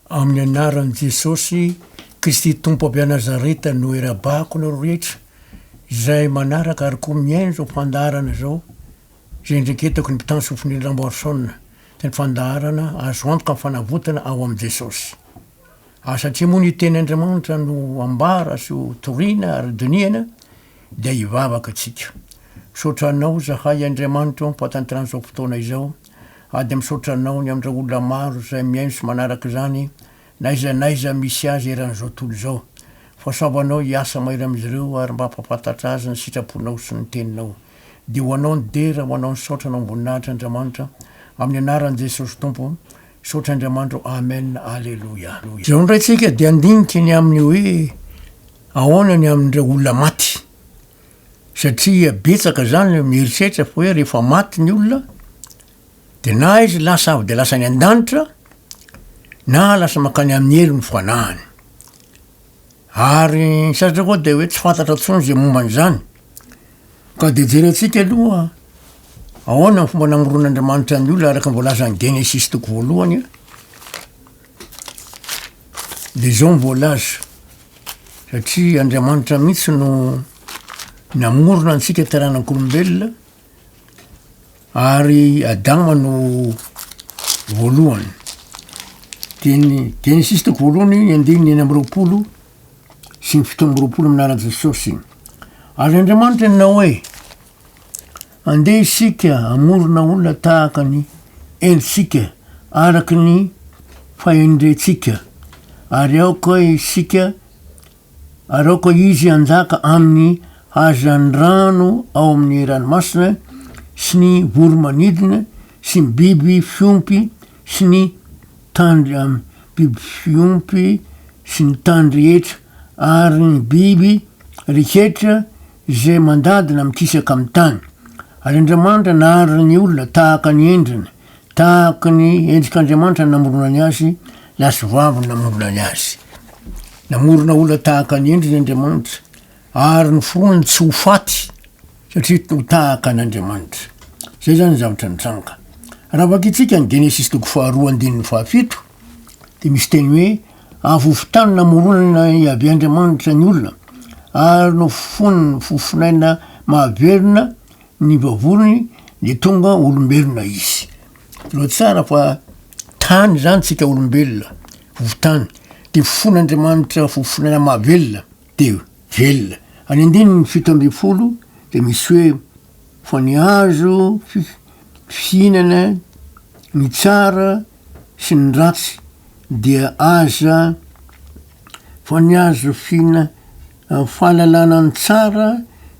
Amin'ny anaran'i Jesosy Kristy Tompo avy Nazareta no irabahako anareo rehetra izay manaraka ary koa mihaino izao fandaharana izao izay indreketako ny mpitandro sofin'ily Ramboarisaona dia ny fandaharana azo antoka fanavotana ao amin'i Jesosy ary satria moa ny teny Andriamanitra no ambara sy ho toriana ary dinihana dia hivavaka tsika misaotra anao zahay Andriamanitra o ampatanterano izao fotoana izao Ady misaotra anao ny amindreo olona maro izay mihaino sy manaraka izany naiza naiza misy azy eran'izao tontolo izao. Fasaovo anao hiasa mahery amin'izy ireo ary mba hampafantatra azy ny sitraponao sy ny teninao. Dia ho anao ny dera ho anao ny saotra anao amboninahitra Andriamanitra amin'ny anaran'i Jesosy Tompo Misaotra Andriamanitra ô Amen Aleloia. Izao indray tsika dia handinika ny amin'ny hoe ahoana ny amin'ireo olona maty. satria betsaka zany ny mieritreritra fa hoe rehefa maty ny olona de na izy lasa avy de lasa any an-danitra na lasa mankany amin'ny helo ny fanahiny ary ny sasatra koa de hoe tsy fantatra intsony zay momba an'izany ka de jerentsika aloha ahoana ny fomba namoron'Andriamanitra ny olona araka ny voalazan'i Genesisy toko voalohany a. Des hommes volages, satria Andriamanitra mihitsy no namorona antsika taranak'olombelona ary Adama no voalohany. Teny Genesis toko voalohany, ny andininy enina amby roapolo sy ny fito amby roapolo amin'ny anaran'i Jesosy. Ary Andriamanitra nanao hoe, Andeha isika hamorona olona tahaka ny entsika araka ny fahendrentsika, ary aoka isika, ary aoka Izy hanjaka amin'ny hazan'ny rano ao amin'ny ranomasina, sy ny voro-manidina, sy ny biby fiompy, sy ny tandry amin'ny biby fiompy, sy ny tany rehetra, ary ny biby rehetra, Izay mandadina mikisaka amin'ny tany. Ary Andriamanitra naharitra ny olona tahaka ny endriny, tahaka ny endrik'Andriamanitra no namoronany azy, lahy sy vavy no namoronany azy. Namorona olona tahaka ny endriny Andriamanitra, ary noforoany tsy ho faty, satria ho tahaka an'Andriamanitra. Izay izany ny zavatra nitranga. Raha vakintsika ny Genesisy toko faharoa andininy fahafito, dia misy teny hoe avovo tany namoronana i Yaveh Andriamanitra ny olona ary nofony ny fofonaina mahavelona ny vavony dia tonga olombelona izy. Tena tsara fa tany izany tsika olombelona, vovotany, dia fofon'Andriamanitra fofonaina mahavelona dia velona. Any andininy fito ambin'ny folo dia misy hoe fa ny azo fihinana ny tsara sy ny ratsy dia aza fa ny azo fina fahalalana ny tsara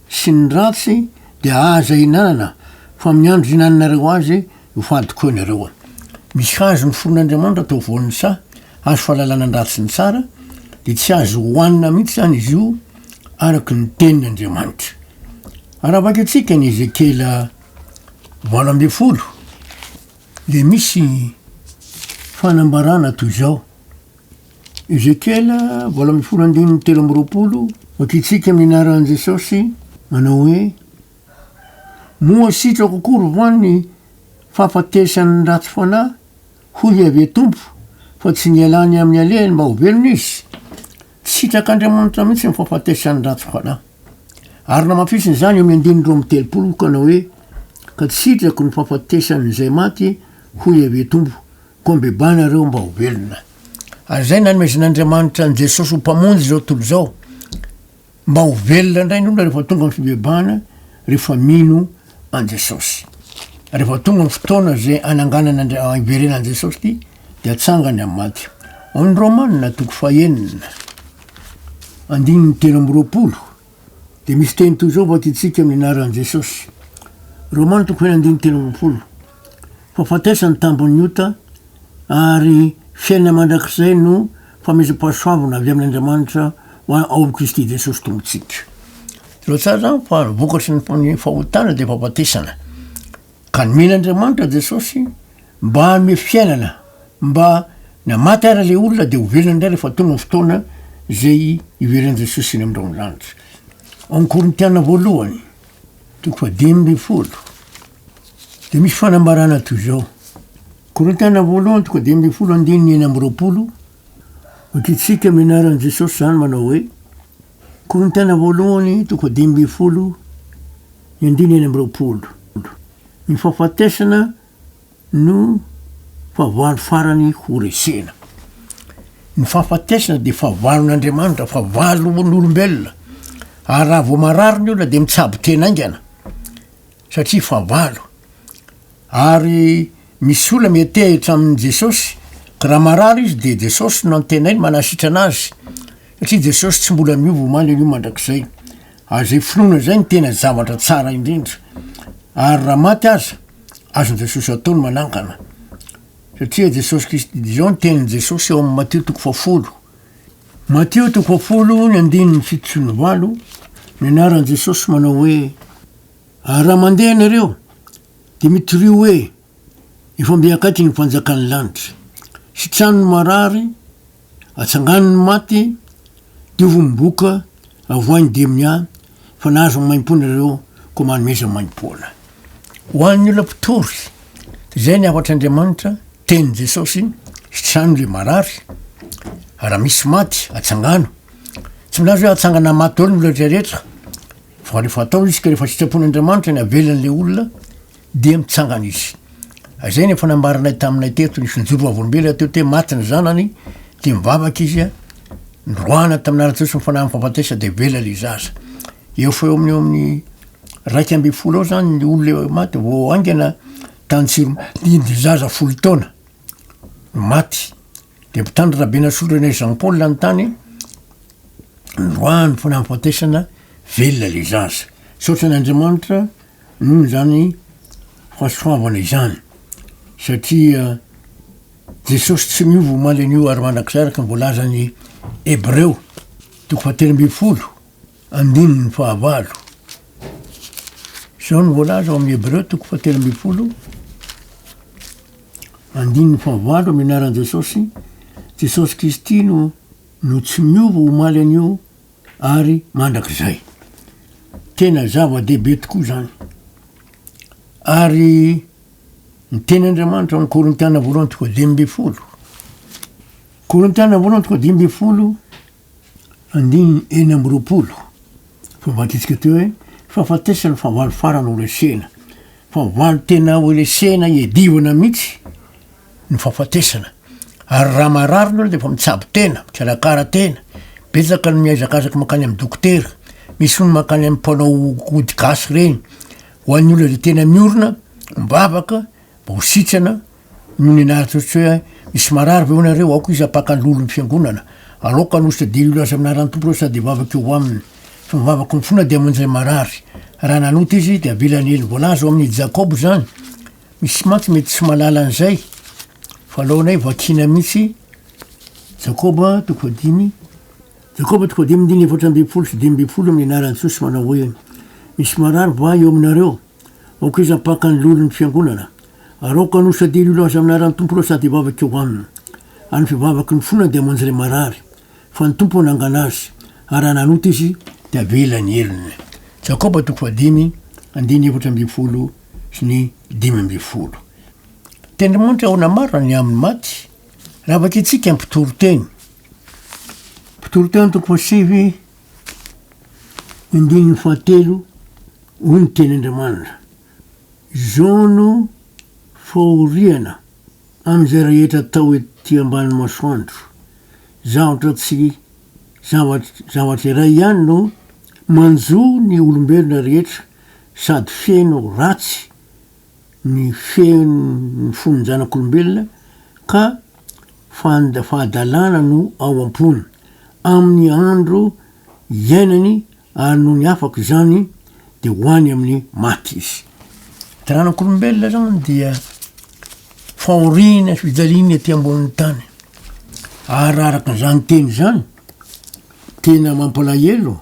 sy ny ratsy dia aza hinanana fa miandry hinaninareo azy io fahadikoa nareo a misy hazo niforon' Andriamanitra atao voan'ny saha hazo fahalalana ny ratsy ny tsara dia tsy azo hohanina mihitsy zany izy io araka ny tenin' Andriamanitra arabaky antsika ny Ezekiela valo ambin'ny folo Dia misy fanambarana toy izao, Ezekiela valo ambin'ny folo andininy telo amby roapolo, Vakitsika amin'ny anaran'i Jesosy, manao hoe, Moa sitrako akory va ny fahafatesan'ny ratsy fanahy, hoy Iaveh Tompo, fa tsy nialany amin'ny alehany mba ho velona izy? Tsy sitrak'Andriamanitra mihitsy ny fahafatesan'ny ratsy fanahy. Ary namafisiny izany eo amin'ny andininy roa amby telopolo ka nanao hoe, Ka tsy sitrako ny fahafatesan'ny izay maty, hoy Iaveh Tompo, koa mibebaha ianareo mba ho velona. Ary izay nanomezan'Andriamanitra an'i Jesosy ho Mpamonjy izao tontolo izao, mba ho velona indray ny olona rehefa tonga amin'ny fibebahana, rehefa mino an'i Jesosy. Rehefa tonga ny fotoana izay hananganana ny hiverenan'i Jesosy ity, dia atsangany amin'ny maty. Ao amin'ny Romanina toko fahenina, andininy telo amby roapolo, dia misy teny toy izao vakintsika amin'ny anaran'i Jesosy. Romanina toko fahenina andininy telo amby roapolo. Fa fatesa ny tambin'ny ota, ary fiainana mandrakizay no famezam-pahasoavana avy amin'Andriamanitra ho ao amin'i Kristy Jesosy Tompontsika. Tena tsara zany fa ny vokatry ny fahotana dia fahafatesana. Ka nomena Andriamanitra Jesosy mba hanome fiainana, mba na maty ary ilay olona dia ho velona indray rehefa tonga ny fotoana izay hiveren'i Jesosy eny amin'ny raondanitra. Ao amin'ny Korintiana voalohany, toko fa dimy ambin'ny folo, dia misy fanambarana toy izao. Korintiana voalohany toko dimy ambin'ny folo andininy enina amby roapolo. Ho tiantsika amin'ny anaran'i Jesosy izany manao hoe, Korintiana voalohany toko fahadimy ambin'ny folo ny andininy enina amby roapolo. Ny fahafatesana no fahavalo farany ho resena. Ny fahafatesana dia fahavalon'Andriamanitra, fahavalon'olombelona. Ary raha vao marary ny olona dia mitsabo tena haingana. satria fahavalo ary misy olona mietehitra amin Jesosy ka raha marary izy dia Jesosy no antenainy manasitrana azy satria Jesosy tsy mbola miova omaly anio mandrakizay ary izay finoana izay no tena zavatra tsara indrindra ary raha maty aza azon Jesosy atao ny manangana satria Jesosy Kristy dia izao ny tenin Jesosy ao amin Matio toko fahafolo Matio toko fahafolo ny andininy fito sy ny valo ny anaran Jesosy manao hoe Ary raha mandeha ianareo, dia mitoria hoe, Efa mby hankaiky ny fanjakan'ny lanitra. Sitrano ny marary, atsangano ny maty, diovo ny boka, avoahy ny demonià, fa nahazo ny maimpoana ianareo, koa manome izay maimpoana. Ho an'ny olona mpitory, dia izay ny hafatr'Andriamanitra, tenin'i Jesosy, Sitrano ilay marary, ary raha misy maty, atsangano. Tsy milaza hoe hatsangana maty daholo ny olona rehetra rehetra, Fa rehefa atao izy ka rehefa sitrapon'Andriamanitra ny havela an'ilay olona dia mitsangana izy. Izay no efa nambaranay taminay teto, nisy nijoro vavolombelona teto hoe maty ny zanany dia mivavaka izy a, noroahana tamin'ny anaran'i Jesosy ny fanahin'ny fahafatesana dia avela ilay zaza. Eo fa eo amin'ny eo amin'ny raika ambin'ny folo eo izany ny olona maty vao haingana tany Tsiroma, dia zaza folo taona no maty. Dia mpitandro Rabenasolo René Jean Paul ny tany noroahany fa nahafatesana velona ilay zaza. Misaotra an' Andriamanitra noho izany fahasoavana izany satria Jesosy tsy miova omaly anio ary mandrakizay araka ny voalazan'ny Hebreo toko fahatelo ambin'ny folo Andininy fahavalo. Izao no voalaza ao amin'ny Hebreo toko fahatelo ambin'ny folo, andininy fahavalo amin'ny anaran'i Jesosy, Jesosy Kristy no no tsy miova omaly anio ary mandrakizay. Tena zava-dehibe tokoa izany. Ary ny teny Andriamanitra amin'ny Korintiana voalohany toko dimy ambin'ny folo. Korintiana voalohany toko dimy ambin'ny folo, Andininy enina amby roapolo, Fomban-ketsika teo hoe, fahafatesana, fahavalo farany ho lesena. Fahavalo tena ho lesena iadivana mihitsy ny fahafatesana. Ary raha marary ny olona dia efa mitsabo tena, mikarakara tena. Betsaka ny mihazakazaka mankany amin'ny dokotera. Misy hono mankany amin'ny mpanao ody gasy ireny. Ho an'ny olona izay tena miorina, mivavaka, mba ho sitrana, Noho ny nahatsoritsoy ahy, misy marary ve ho anareo? Aoka izy hampaka ny lolon'ny fiangonana. Aleoko hanosika dia hilaza amin'ny anaran'ny Tompo ireo sady hivavaka eo aminy. Fa ny vavako mifoana dia aman-jay marary. Raha nanota izy, dia avelany hely. Voalaza ao amin'ny i Jakoba izany. Misy mantsy mety tsy mahalala an'izay, fa alaonay vakina mihitsy. Jakoba toko fahadimy. Jakoba toko fahadimy andininy efatra ambin'ny folo sy dimy ambin'ny folo amin'ny anaran'i Jesosy manao hoe, Misy marary va eo aminareo? Aoka izy hampaka ny loholon'ny fiangonana, ary aoka hanosadiany ho laza amin'ny anaran'ny Tompo ireo sady hivavaka eo aminy. Ary ny fivavaky ny fona dia hamonjy ilay marary, fa ny Tompo hanangana azy, ary raha nanota izy, dia havela ny helony. Jakoba toko fahadimy, andininy efatra ambin'ny folo sy ny dimy ambin'ny folo. Tain'Andriamanitra ahoana marina ny amin'ny maty? Raha vakitsika ny mpitoriteny, Mpitoriteny toko fahasivy, Andininy fahatelo, Hoy ny Teny Andriamanitra, Izao no fahoriana amin'izay rehetra atao ety ambany masoandro, zavatra tsy zavatra iray ihany no manjo ny olombelona rehetra sady feno ratsy, ny feon' ny fon'ny zanak'olombelona ka fand fahadalana no ao am-pony, amin'ny andro iainany, ary nony afaka izany dia ho any amin'ny maty izy. Zanak'olombelona zany dia fahoriana sy fijaliana ety ambonin'ny tany, ary raha araka izany teny izany, tena mampalahelo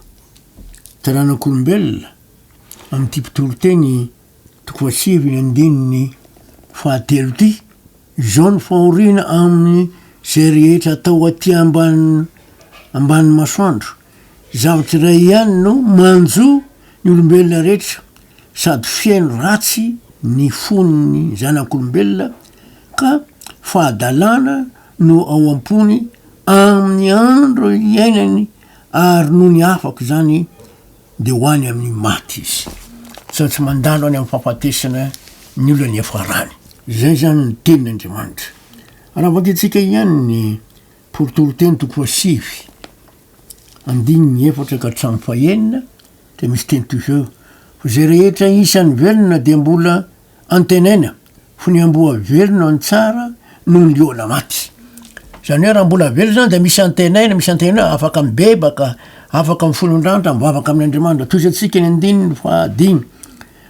taranak'olombelona amin'ity mpitoriteny. Tokoa sivy andininy fahatelo ity izao ny fahoriana amin'ny izay rehetra atao aty ambany ambany masoandro. Zavatra iray ihany no manjo ny olombelona rehetra sady feno ratsy ny fon'ny zanak'olombelona ka fahadalana no ao am-pony amin'ny andro iainany ary nony afaka izany dia ho any amin'ny maty izy, sady tsy mandalo any amin'ny fahafatesana ny olona niafarany. Izay izany no tenin' Andriamanitra. Raha vakintsika ihany ny Porotoronteny toko fahasivy, andininy efatra ka hatramin'ny fahenina, dia misy teny toy izao, Fa izay rehetra isan'ny velona dia mbola Antenaina ho ny amboa velona no tsara noho ny liona maty. Izany hoe raha mbola velona izany dia misy antenaina, misy antenaina hoe afaka mibebaka, afaka mifolon-drandra, mivavaka amin' Andriamanitra. Tohizantsika eny andininy fahadimy.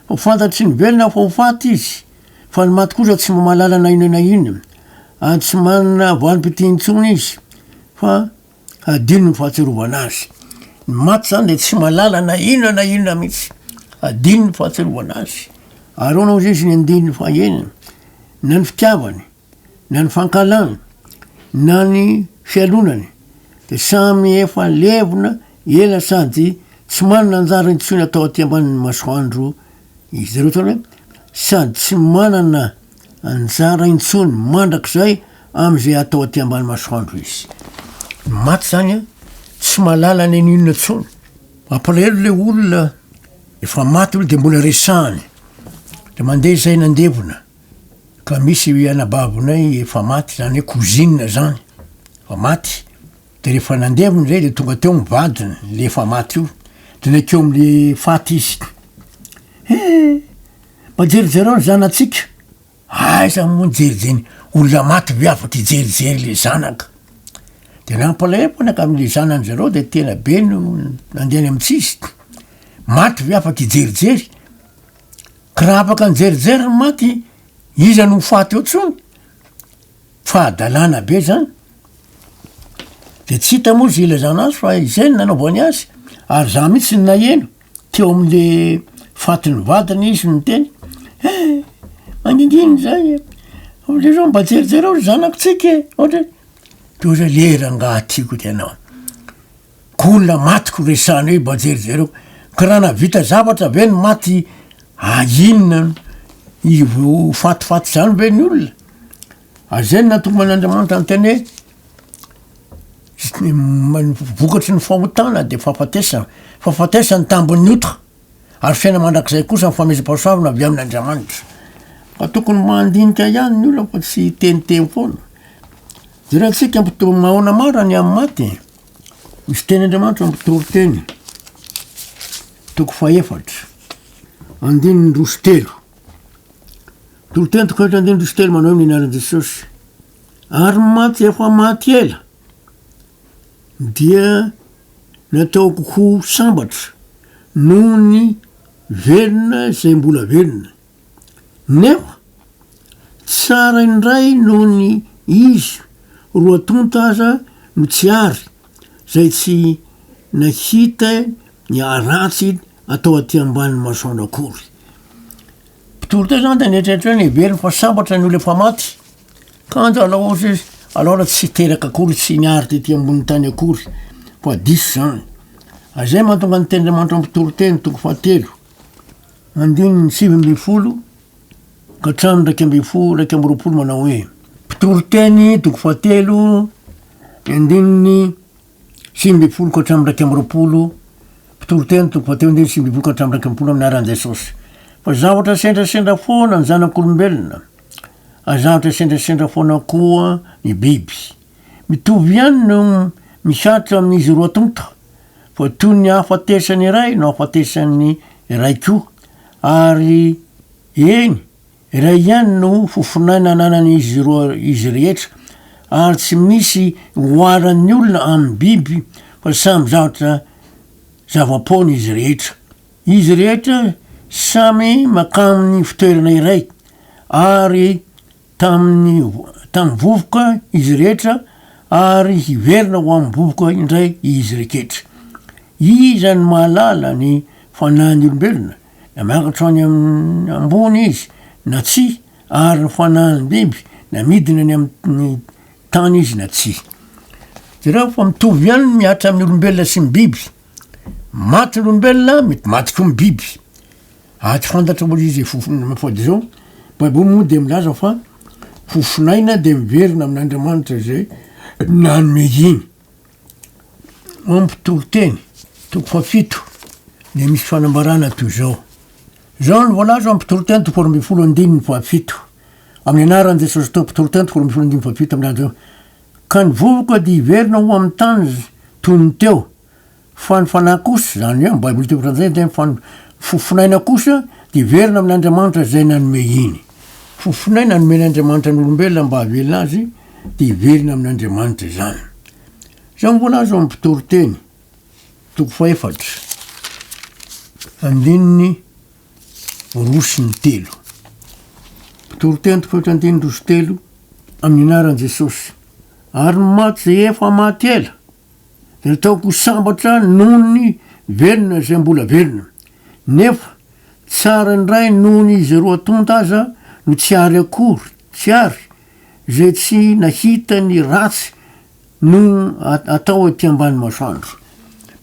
Ho fantatry ny velona fa ho faty izy, fa ny maty kosa tsy mba mahalala na inona na inona, ary tsy manana valim-pitia intsony izy, fa Hadino ny fahatsiarovana azy. Ny maty izany dia tsy mahalala na inona na inona mihitsy. Hadino ny fahatsiarovana azy. Ary hono hozy izy ny andininy fahaenina, na ny fitiavany, na ny fankahalany, na ny fialonany, dia samy efa levona ela sady tsy manana anjara intsony atao aty ambanin'ny masoandro Izy ireo izany sady tsy manana anjara intsony mandrakizay amin'izay atao aty ambany masoandro izy. Ny maty izany tsy mahalala na inona intsony. Mampalahelo ilay olona efa maty aloha dia mbola resahany. Dia mandeha izay nandevona ka misy anabavonay efa maty, izany hoe cousine izany, efa maty. De refa nandevona zay de tonga teo ny vadiny le efa maty io de nakeo amle faty izy he mba jerijereo ny zanatsika aiza mo ny jerijeny olona maty ve afaka ijerijery le zanaka de nampalahevonaka amle zanany zareo de tena be no nandeha any am tsizy maty ve afaka ijerijery ka raha afaka nijerijery ny maty iza no ho faty eo tsony Fahadalana be zany. De tsy hita moa zay ilazana azy fa izay no nanaovany azy ary za mihitsy no naheno teo amle fatin'ny vadiny izy no niteny he mangingina zay e, ohatrareo mba jerijereo ry zanakontsika e, ohatra hoe de ohatran'ny hoe le rangah tiako tena. Ko olona maty ko resahana eo bajery zareo ka raha navita zavatra ve ny maty a inona io fatifaty zany ve ny olona ary zay no nahatonga an'andriamanitra niteny hoe vokatry ny fahotana de fahafatesana fahafatesana ny tambin'ny ota ary fiaina mandrakizay kosa ny famezam-pahasoavana avy amin'andriamanitra fa tokony mandinika ihany ny olona fa tsy hiteniteny foana jereo antsika mpitory mahaona maro ny amin'ny maty e. Ny fitenin'Andriamanitra amin'ny toriteny, toko fahefatra, andininy roa sy telo. Toriteny toko fahefatra andininy roa sy telo manao ny anaran'i Jesosy. Ary mantsy efa maty ela dia nataoko ho sambatra noho ny velona izay mbola velona. Neo, tsara indray noho ny izy roa tonta aza no tsy ary zay tsy nahita ny ratsy atao aty ambany masoandro akory. Mpitory teo zany de nieritreritra hoe niveriny fa sambatra ny olona efa maty kanja alao ohatra izy alao raha tsy teraka akory tsy niary tety ambony tany akory fa diso zany. Zay mahatonga ny tenin'Andriamanitra mpitory teny toko fahatelo. Andininy sivy ambin'ny folo ka hatramin'ny iraika ambin'ny folo, iraika amby roapolo manao hoe Mpitoriteny toko fahatelo ny andininy sivy ambin'ny folo ka hatramin'ny iraika amby roapolo Mpitoriteny toko fahatelo andininy sivy ambin'ny folo ka hatramin'ny iraika ambin'ny folo amin'ny anaran'i Jesosy fa zavatra sendrasendra foana ny zanak'olombelona ary zavatra sendrasendra foana koa ny biby. Mitovy ihany no misatra amin'izy roa tonta, fa toy ny ahafatesan'ny iray no ahafatesan'ny iray koa, ary eny, iray ihany no fofon'aina ananan'izy roa izy rehetra, ary tsy misy oharan'ny olona amin'ny biby fa samy zavatra zava-poana izy rehetra. Izy rehetra samy mankamin'ny fitoerana iray, ary tamin'ny tamin'ny vovoka izy rehetra, ary hiverina ho amin'ny vovoka indray izy reketra. Iza no mahalala ny fanahin'ny olombelona, na miakatra ho any amin'ny ambony izy na tsia, ary ny fanahin'ny biby, na midina any amin'ny tany izy na tsia? Jereo fa mitovy ihany ny mihatra amin'ny olombelona sy ny biby. Maty ny olombelona, mety maty koa ny biby. Aty fantatra moa izy fofona mafody izao, baiboly moa dia milaza fa fofonaina dia miverina amin'Andriamanitra izay nanome iny. Mampitory teny, toko fahafito, dia misy fanambarana toy izao. Izao no voalaza ao mpitory teny toko faharoa ambin'ny folo andininy fahafito, amin'ny anaran'i Jesosy Tompo, mpitory teny toko faharoa ambin'ny folo andininy fahafito milaza hoe, Ka ny vovoka dia hiverina ho amin'ny tany toy ny teo, Fa ny fanahy kosa, izany hoe ny Baiboly teny frantsay dia fa ny fofonaina kosa dia hiverina amin' Andriamanitra izay nanome iny. Fofonaina nomen' Andriamanitra ny olombelona mba hahavelona azy dia hiverina amin' Andriamanitra izany. Izao ny voalaza ao amin' ny Mpitoriteny, toko fahefatra, andininy roa sy ny telo. Mpitoriteny toko fahefatra andininy roa sy telo, Amin'ny anaran'i Jesosy. Ary ny maty izay efa maty ela dia ataoko ho sambatra noho ny velona izay mbola velona. Nefa tsara indray noho ny izay roa tonta aza no tsy àry akory, tsy àry izay tsy nahita ny ratsy no atao ety ambany masoandro.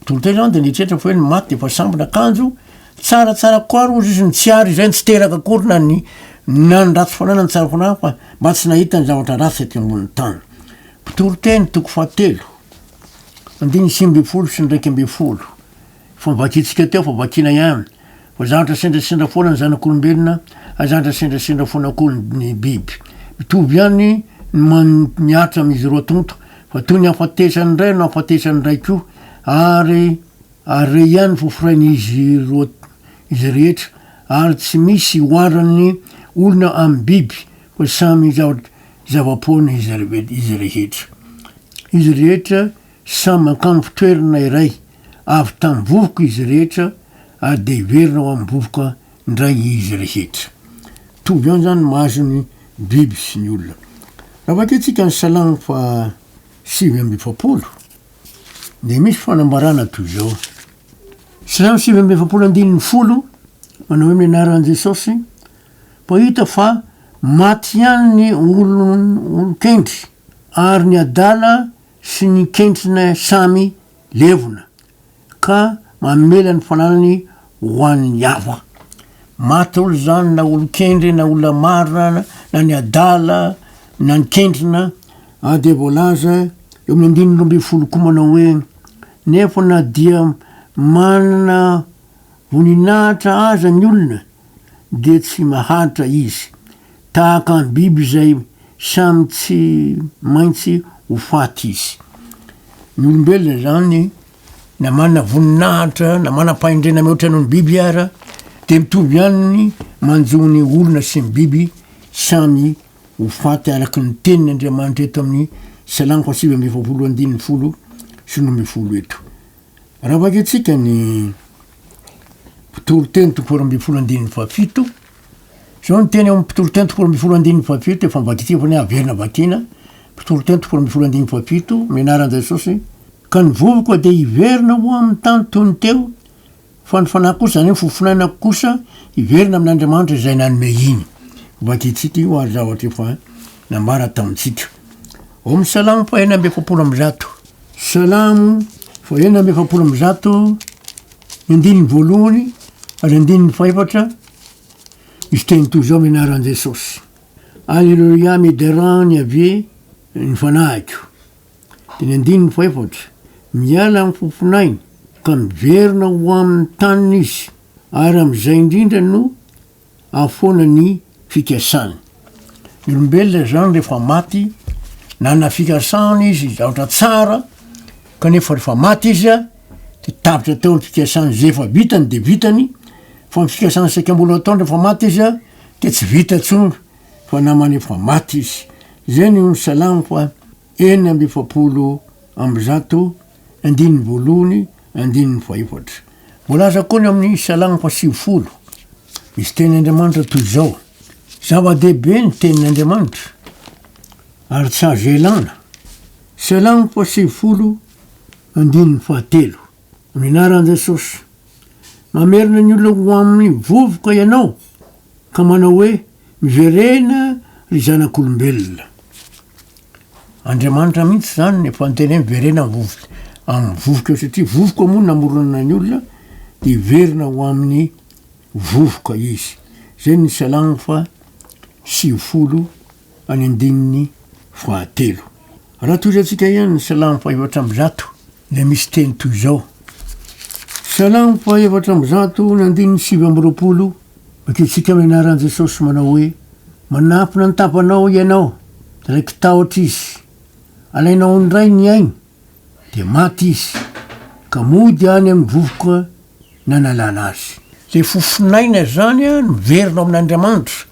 Tonta izany dia nieritreritra fa hoe ny maty dia efa sambatra, kanjo tsara tsara kokoa àry hozy izy ny tsy àry izay ny tsy teraka akory na ny na ny ratsy fanahy na ny tsara fanahy fa mba tsy nahita ny zavatra ratsy ety ambonin'ny tany. Toriteny toko fahatelo, andininy sivy ambin'ny folo sy ny iraika ambin'ny folo. Efa novakintsika teo fa vakiana ihany. Fa zavatra sendrasendra foana ny zanak'olombelona, ary zavatra sendrasendra foana koa ny biby. Mitovy ihany ny man- ny atra amin'izy roa tonta, fa toy ny hafatesan'ny iray no hafatesan'ny iray koa, ary ary re ihany fo forain'izy roa izy rehetra, ary tsy misy oharan'ny olona amin'ny biby, fa samy zavatra zava-poana izy rehetra. Izy rehetra samy mankambo toerana iray, avy tamin'ny vovoka izy rehetra ary dia hiverina ho amin'ny vovoka indray izy rehetra. Mitovy ihany izany ny mahazo ny biby sy ny olona. Raha vakintsika ny Salamo faha sivy amby efapolo dia misy fanambarana toy izao, Salamo sivy amby efapolo andininy folo, manao hoe ny anaran'i Jesosy Koa hita fa maty ihany ny olon-kendry ary ny adala sy ny kendrina samy levona ka mamela ny fananany ho an'ny hafa. Maty daholo izany na olon-kendry na olona marina na ny adala na ny kendrina dia voalaza eo amin'ny andininy roa ambin'ny folo koa manao hoe, Nefa na dia manana voninahitra aza ny olona, dia tsy mahantra izy, tahaka ny biby izay samy tsy maintsy ho faty izy. Ny olombelona izany, na manana voninahitra na manam-pahendrena mihoatra noho ny biby ara, dia mitovy ihany ny manjo ny olona sy ny biby samy ho faty araka ny tenin' Andriamanitra eto amin'ny Salamo sivy amby efapolo andininy folo sy roa ambin'ny folo eto. Raha vakintsika ny. Mpitoriteny toko folo ambin'ny folo andininy fahafito, Izao no teny amin'ny mpitoriteny toko folo ambin'ny folo andininy fahafito, efa nivakitsika fa ny haverina vakina, mpitoriteny toko folo ambin'ny folo andininy fahafito, Mianara an'i Jesosy, Ka ny vovoka dia hiverina ho amin'ny tany toy ny teo, fa ny fanahy kosa, izany hoe ny fofonainako kosa, hiverina amin' Andriamanitra izay nanome iny. Vakitsika io ary zavatra efa nambarany tamintsika ao amin'ny Salamo fahenina amby efapolo amby zato. Salam, fa enina amby efapolo amby zato, ny andininy voalohany ary andininy fahefatra, misy teny toy izao amin'ny anaran'i Jesosy, Aleloia, miderà ny Yaveh ny fanahiko. Dia ny andininy fahefatra, Miala amin'ny fofonainy ka miverina ho amin'ny taniny izy, ary amin'izay indrindra no Any foana ny fikasany. Ny olombelona izany rehefa maty, nanana fikasana izy, zavatra tsara, kanefa rehefa maty izy dia tapitra teo ny fikasany. Izay efa vitany dia vitany, fa ny fikasana saika mbola ataony rehefa maty izy dia tsy vita intsony fa naman'efa maty izy. Izay no nisalamako an. enina amby efapolo amby zato, andininy voalohany, andininy fahefatra. Voalaza koa ny amin'ny Salamo fahasivifolo, misy teny Andriamanitra toy izao, Zava-dehibe ny tenin'Andriamanitra, ary tsy azo ialana. Salamo fahasivifolo, andininy fahatelo. Ny anaran'i Jesosy. Mamerina ny olona ho amin'ny vovoka ianao ka manao hoe, Miverena, ry zanak'olombelona. Andriamanitra mihitsy izany no efa niteny hoe miverena amin'ny vovoka, amin'ny vovoka eo, satria vovoka moa no namorona ny olona, dia hiverina ho amin'ny vovoka izy. Izay ny Salamo faha sivifolo. any andininy fahatelo. Raha tohizantsika ihany ny Salamo fahefatra amby zato dia misy teny toy izao, Salamo fahefatra amby zato ny andininy sivy amby roapolo, Vakintsika amin'ny anaran'i Jesosy manao hoe, Manampina ny tampanao Ianao, raiki-tahotra izy. Alainao indray ny ainy, dia maty izy, ka mody any amin'ny vovoka nanalana azy. Ilay fofonaina izany an, miverina ao amin'Andriamanitra,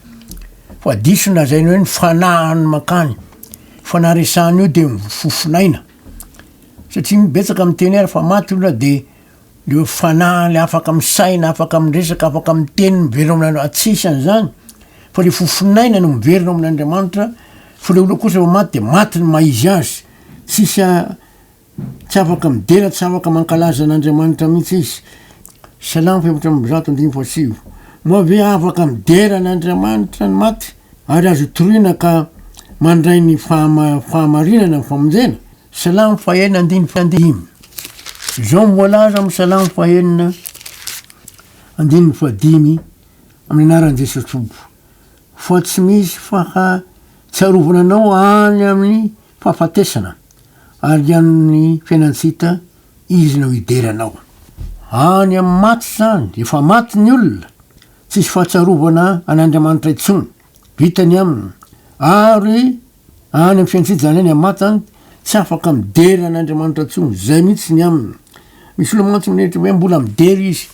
fa diso ny lazainy hoe ny fanahiny mankany, fanahy resahina io dia ny fofonaina, satria betsaka miteny ary fa maty olona dia le fanahy le afaka misaina, afaka miresaka, afaka miteny miverina ao amin'Andriamanitra, tsy hisy an'izany, fa le fofonaina no miverina ao amin'Andriamanitra, fa le olona kosa vao maty dia maty ny maha izy azy. Tsisy a Tsy afaka midera tsy afaka mankalaza an'Andriamanitra mihitsy izy Salam fepatra amby zato andimy fo sivo Moa ve afaka midera an'Andriamanitra ny maty ary azo itoriana ka mandray ny fahama fahamarinana ny famonjena? Salam fahenina andiny fo dimy Izao no voalaza amin'ny Salam fahenina andininy fo dimy Amin'ny anaran'i Jesosy Tompo Fa tsy misy faha tsiarovana anao any amin'ny fahafatesana, ary an'ny fiainan-tsita izy no hidera anao. Any amin'ny maty izany, efa maty ny olona, tsisy fahatsiarovana an'Andriamanitra intsony, vita ny aminy, ary Any amin'ny fiantsejana any Amata, tsy afaka midera an'Andriamanitra intsony. Izay mihitsy ny aminy. Misy olona mantsy mieritreritra hoe mbola midera izy.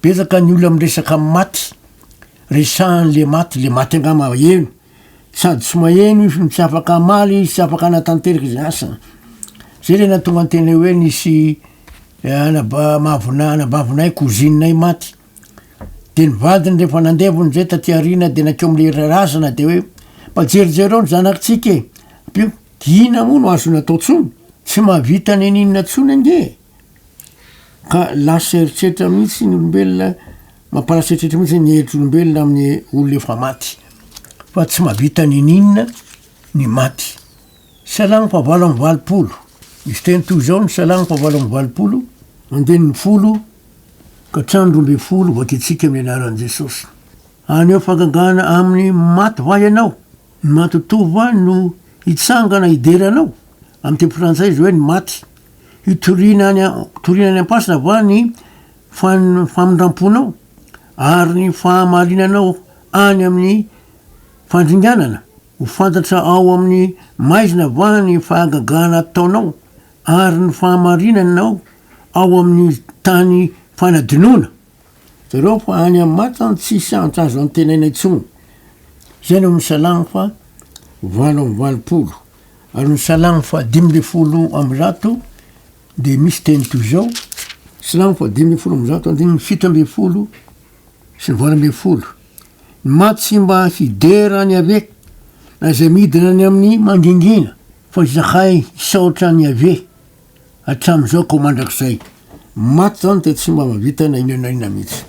Betsaka ny olona miresaka amin'ny maty, resahan'ilay maty, ilay maty angaha maheno. Sady tsy maheno izy no tsy afaka hamaly izy, tsy afaka hanatanteraka izay asany. Izay ilay nahatonga ny teny hoe nisy anabavina, anabavinay, cousine-nay maty. Dia ny vadiny rehefa nandevony izay taty aoriana dia nankeo amin'ilay iray razana dia hoe, mba jerijereo ny zanakitsika e, ampio, dia inona moa no azony atao intsony? Tsy mahavita n'inon'inona intsony ange e! Ka lasa eritreritra mihitsy ny olombelona, mampalasa eritreritra mihitsy ny eritr'olombelona amin'ny olona efa maty, fa tsy mahavita n'inon'inona ny maty. Salamo fahavalo amby valopolo, misy teny toy izao ny Salamo fahavalo amby valopolo, andininy folo, Ka trano roa ambin'ny folo voakiantsika amin'ny anaran'i Jesosy. Haneho fangagana amin'ny maty va ianao? Ny matotoa va no hitsangana hidera anao? Amin'ny teny frantsay izay hoe ny maty. Hitoriana any toriana any am-pasina va ny famindramponao ary ny fahamarinanao any amin'ny fandringanana? Ho fantatra ao amin'ny maizina va ny fahagagana ataonao ary ny fahamarinanao ao amin'ny tany fanadinoana zareo fa any amin'ny matany tsisy hanitra azo antenaina intsony. Izay no amin'ny Salamo fa valo amby valopolo. Ary ny Salamo fa dimy ambin'ny folo amby zato dia misy teny toy izao, Salamo fa dimy ambin'ny folo amby zato andininy fito ambin'ny folo sy ny valo ambin'ny folo. Ny maty tsy mba hidera an'i Yaveh, na izay midina any amin'ny mangingina, fa izahay hisaotra an'i Yaveh. Hatramin'izao ko mandrakizay. Maty zany dia tsy mba mahavita na inona na inona mihitsy.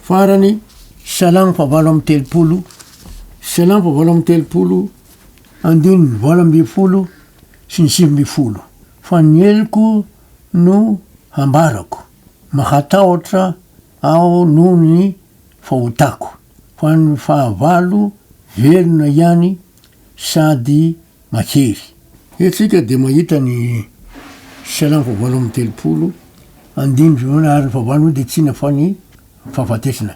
Farany, Salamo valo amby telopolo, Salamo valo amby telopolo, andininy valo ambin'ny folo sy ny sivy ambin'ny folo. Fa ny heloko no hambarako, mahatahotra aho noho ny fahotako, fa ny fahavalo velona ihany. sady mahery. Eto isika dia mahita ny Salamo fahavalo amby telopolo, andininy voalohany, ary ny fahavalo moa dia tsina fa ny fahafatesana.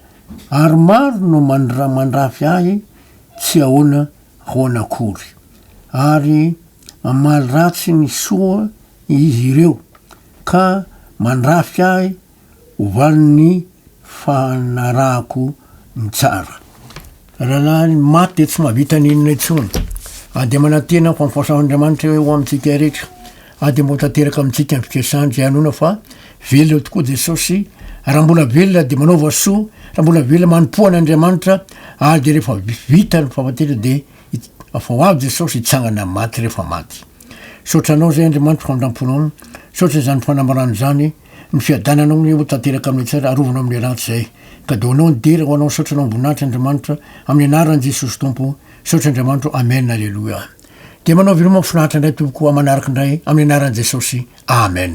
Ary maro no mandra mandrafy ahy tsy ahoana ahoana akory. Ary mamaly ratsy ny soa izy ireo, ka mandrafy ahy ovaly ny fanarahako ny tsara. Rahalahy ny maty dia tsy mahavita ny inona intsony. Ary dia manantena ny fampifahsahan'Andriamanitra ho amintsika iretra. Ary dia mba ho tanteraka amintsika ny fikasany izay hanoana fa velona tokoa Jesosy. Raha mbola velona dia manaova soa, raha mbola velona manompoa an'Andriamanitra, ary dia rehefa vita ny fahafatena dia afa ho avy Jesosy hitsangana amin'ny maty rehefa maty. Misaotra anao izay Andriamanitra famindramponao. Misaotra izany fanambarana izany. Ny fiadananao anie ho tanteraka amin'ny tsara arovana amin'ny ratsy zay ka de ho anao ny dera ho anao ny saotra anao amboninahitra Andriamanitra amin'ny anaran Jesosy Tompo saotra Andriamanitro Amen Aleloia dia manao veloma finaritra indray tompoko amanaraka indray amin'ny anaran Jesosy Amen.